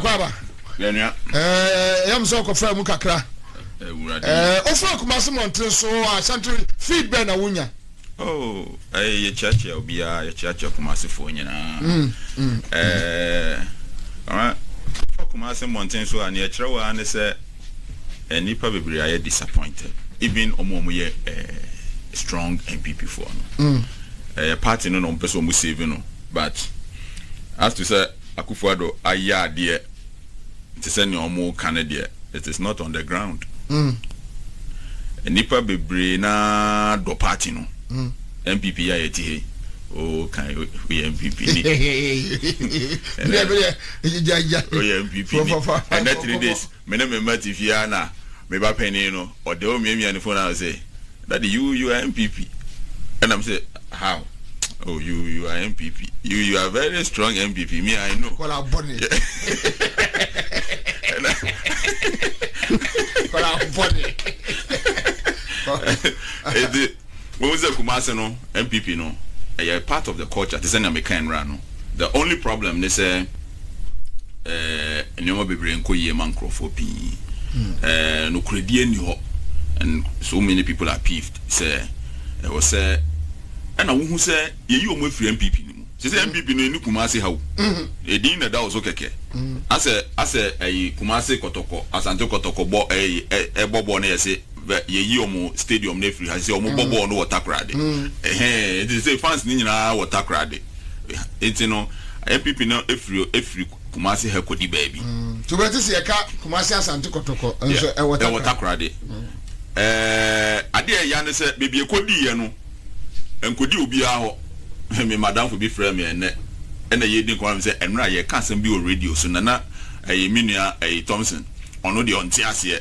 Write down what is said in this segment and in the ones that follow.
akwaaba ɛyam sɛ ɔkɔfra mu kakra wofra kumase mmɔnten so asante feed bɛn na wonya oh, yɛkyeakyea obiaa yɛkyeakyea kumasefoɔ nyinaa mm, mm, mm. kumase mmɔnten so a neɛ ɛkyerɛ wɔ a ne sɛ eh nipa bebree ayɛ disappointed even wɔn a wɔyɛ eh strong npp foɔ no mm. ɛyɛ eh, party no na wɔn pɛ sɛ wɔn save no but as to sɛ akufo ado ayɛ adeɛ te sɛ nea wɔn ka no deɛ it is not on the ground mm. nipa bebree na dɔ party no. Mm. NPP yi a yɛte ha yi, wo kan woyɛ NPP ni. Ɛnɛ woyɛ NPP ni. Ɛnɛ three days me ne me mma te fie a na me ba panin no ɔde wo miamia ne phone ano sɛ daddy you you are NPP ɛna me sɛ how oh you you are NPP you you are very strong NPP me I know. Kɔla bɔne. Ɛna. Kɔla bɔne. Ɛdi. Wohu sɛ Kumasi no NPP no ɛyɛ part of the culture te sɛ nea mekae nnora no. The only problem ne sɛ ɛɛ nneɛma bebree nkɔ yie ma nkorɔfoɔ pii. Ɛɛ nokorɛdie nni hɔ and so many people are peeved sɛ ɛwɔ sɛ ɛna wohu sɛ yɛyi wɔn afiri NPP no mu. Sɛ sɛ NPP no ɛni Kumasi ha o. Ɛdin na ɛda wɔ so kɛkɛ. Asɛ asɛ ɛyi Kumasi kɔtɔkɔ, Asante kɔtɔkɔ bɔ ɛyi ɛbɔ bɔɔl na yɛse. bɛ yɛyi ɔmo stadium no afiri ha sɛ ɔmo bɔ bɔɔl no wɔ takorade ɛhɛn nti sɛ fans no nyinaa wɔ takorade nti no npp no afiri afiri kumase ha kɔdi baabi. to bɛ te sɛ yɛka kumase asante kɔtɔkɔ nso ɛwɔ takorade ɛwɔ takorade ɛɛ adeɛ ɛya ne sɛ baabi ɛkɔdi yɛ no ɛnkɔdi obiara hɔ me madamfo bi frɛ me ɛnɛ ɛna yɛdi nkɔmɔ me sɛ ɛnora yɛka asɛm bi wɔ radio so na na ɛyɛ me nua ɛyɛ Thompson ɔno deɛ ɔnte aseɛ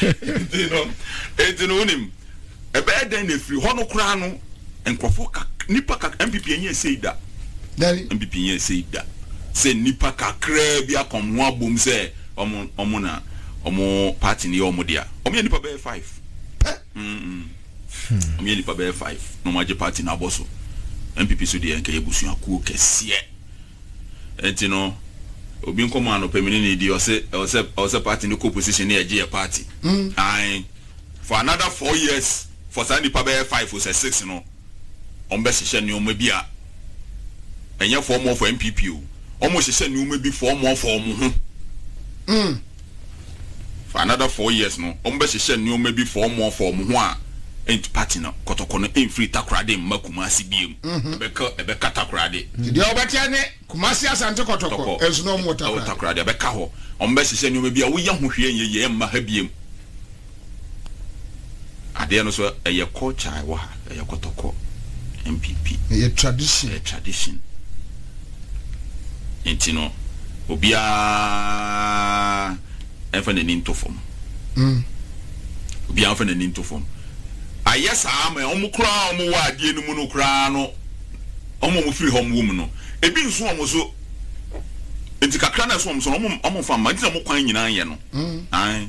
Enti no, enti no wonim, ɛbɛyɛ dɛn na ɛfiri hɔ no koraa no, nkurɔfoɔ kak, nnipa kak, MPP ɛnyɛ ɛsei da. Dabi. MPP ɛnyɛ ɛsei da. Sɛ nnipa kakraa bi aka wɔn ho abom sɛ wɔn, wɔn na wɔn party no yɛ wɔn dea. Wɔn yɛ nnipa bɛyɛ five. Pɛ. Mm, mm. Wɔn yɛ nnipa bɛyɛ five na wɔn agye party no abɔ so. MPP so deɛ nka ɛyɛ busuakuo kɛseɛ. Ɛnti no obi nkɔmɔ anɔpa mene no di ɔse ɛwɔsɛ ɛwɔsɛ party no kɔ position ne yɛgye yɛ party ae for another four years for saa nipa bɛyɛ five o sɛ six no ɔmo bɛ hyehyɛ nnoɔma bi a ɛnyɛ fɔmɔ for NPP o ɔmo hyehyɛ nnoɔma bi fɔmɔ for ɔmo ho. For another four years no ɔmo bɛ hyehyɛ nnoɔma bi for ɔmo afa ɔmo ho a ɛnti party no kɔtɔkɔ no ɛnfiri Takoradi mma Kumasi biom ɛbɛka ɛbɛka Takoradi. Deɛ ɔbɛteɛ ne Kumasi Asante kɔtɔkɔ nso na ɔmo wɔ Takoradi. Takoradi ɛbɛka hɔ ɔmo bɛ hyehyɛ nnoɔma bi a woyɛ ho hwee ɛnyɛ yie ɛmma ha biom. Adeɛ no so ɛyɛ culture a ɛwɔ ha, ɛyɛ kɔtɔkɔ, NPP. Ɛyɛ tradition. Ɛyɛ tradition. Nti no, obiara ɛnfa n'ani nto fam. Mm. Obiara ɛnfa n'ani nto fam. Ayɛ saa ama wɔn koraa wɔn wɔ adeɛ no mu no koraa no, wɔn wɔn firi ha wɔn wɔ mu no, ebi nso wɔn so. Nti kakra na ɛso wɔn so no, wɔn wɔn nfa mma. Nti na wɔn kwan nyinaa yɛ no. Mm. Ae.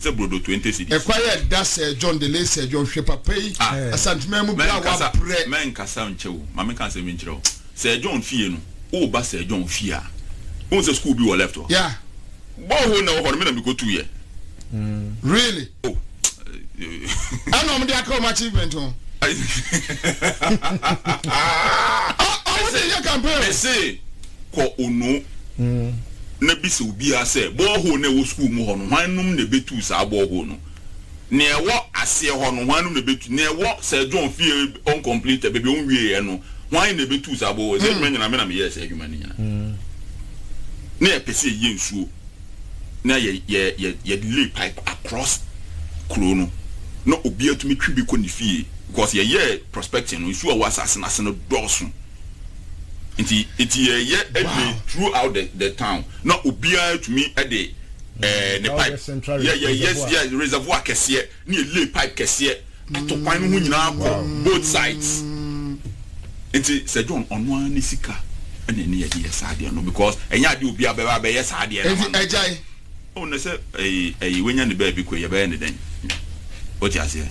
Sɛ brodo twenty cedis. Ɛkwa yɛ da Sir John de late Sir John hwɛ papa yi Ah. Asante man mu bra Mɛnkasa wabrɛ. mɛnkasa nkyɛ o ma menka asɛm bi nkyerɛ wo Sir John fie no woba Sir John fie a wohu sɛ school bi wɔ left hɔ Yeah. Bore hole na ɛwɔ hɔ no me na mekɔtuu yɛ Really? Oh eh Ɛna ɔmo de aka ɔmo achievement ho. Ɔ ɔmo de yɛ campaign o. Mese. kɔ Ono na bisa obiara sɛ, borehole no a ɛwɔ sukuu mu hɔ no, hwannom na ɛbɛtuu saa borehole no? Nea ɛwɔ aseɛ hɔ no, hwannom na ɛbɛtu? Nea ɛwɔ Sir John fie uncompleted, baabi a ɔnwieeɛ no, hwan na ɛbɛtuu saa borehole? Saa adwuma nyinaa, me na meyɛɛ saa adwuma no nyinaa. Na yɛpɛ sɛ yɛyɛ nsuo, na yɛ, yɛ, yɛ, yɛde lay pipe across kuro no, na obiara tumi twe bi kɔ ne fie, because yɛyɛɛ prospecting no, nsuo a ɛwɔ asase no ase no dɔɔso. Nti nti yɛyɛ ɛdwene through out the the town na obiara tumi ɛde ɛɛ mm, ne pipe yɛ yɛ yɛ yɛ reservoir kɛseɛ ne yɛ lay pipe kɛseɛ ato kwan no ho nyinaa kɔ both sides nti sɛ John ɔno ara ne sika ɛna ɛne yɛde yɛ saa adeɛ no because ɛnyɛ adeɛ obiara bɛba bɛyɛ saa adeɛ no ma no ɛgyae ɔn na sɛ ɛyi ɛyi wanya ne baabi kɔ yɛbɛyɛ ne dɛn o ti aseɛ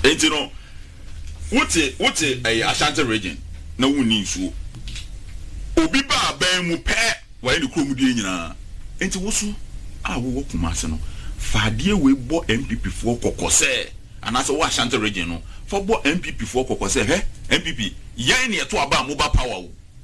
nti no. Wote wote ɛyɛ Ashanti region na wonni nsuo. Obi ba aban mu pɛ wayɛ ne kurom deɛ nyinaa. Nti woso a wowɔ Kumasi no fa adeɛ wei bɔ NPP foɔ kɔkɔ sɛ anaasɛ wowɔ Ashanti region no fa bɔ NPP foɔ kɔkɔ sɛ hwɛ NPP yɛn na yɛto aba a moba power o.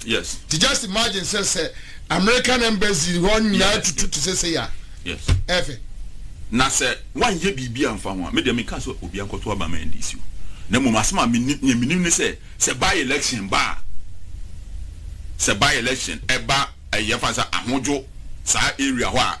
Nti just imagine sɛ sɛ American embassy hɔ nyinaa tutu te sɛ sei a, ɛfɛ. Na sɛ wanyɛ biribi amfa ho a, me deɛ menka sɛ obi ankɔto aba ma NDC o. Na mmom asɛm a menim, nea menim ne sɛ, sɛ by election ba a, sɛ by election ɛba ɛyi yɛfa no sɛ ahodwo saa area hɔ a,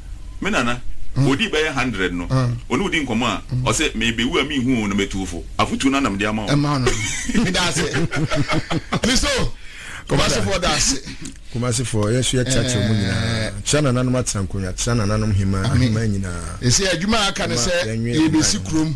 Me nana, odii bɛyɛ hundred no, ɔne wo di nkɔmmɔ a, ɔse, Merebewu a menhu oo, na matu wo fo. Afotuo no ara na mede ama wo. Ɛma no. Meda ase. Me so, Kumasefoɔ da ase. Kumasefoɔ, yɛn nso yɛkyerɛ kyerɛ mo nyinaa. Kyerɛ nananom atenankonnwa, kyerɛ nananom hemaa, ahemaa nyinaa. Ɛsɛ adwuma a aka ne sɛ yɛrebɛsi kurom.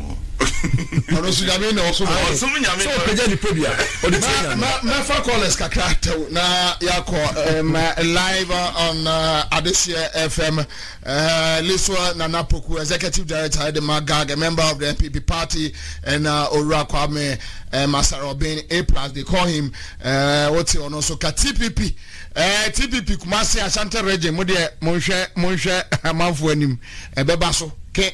ɔno nso nyame na ɔsom ɔyɛ ɔsom nyame sɛ ɔpagya nipadua ɔde tie nyame mɛfa callers kakra tɛw na yɛakɔ um, live on uh, adeseɛ fm uh, liswa nana poku executive director ɛde ma gag a member of the npp party and uh, owura kwame uh, masarobin a plus they call him uh, wote ɔno nso ka tpp uh, tpp kumase ashanti region mo deɛ monhwɛ monhwɛ amanfoɔ anim ɛbɛba so ke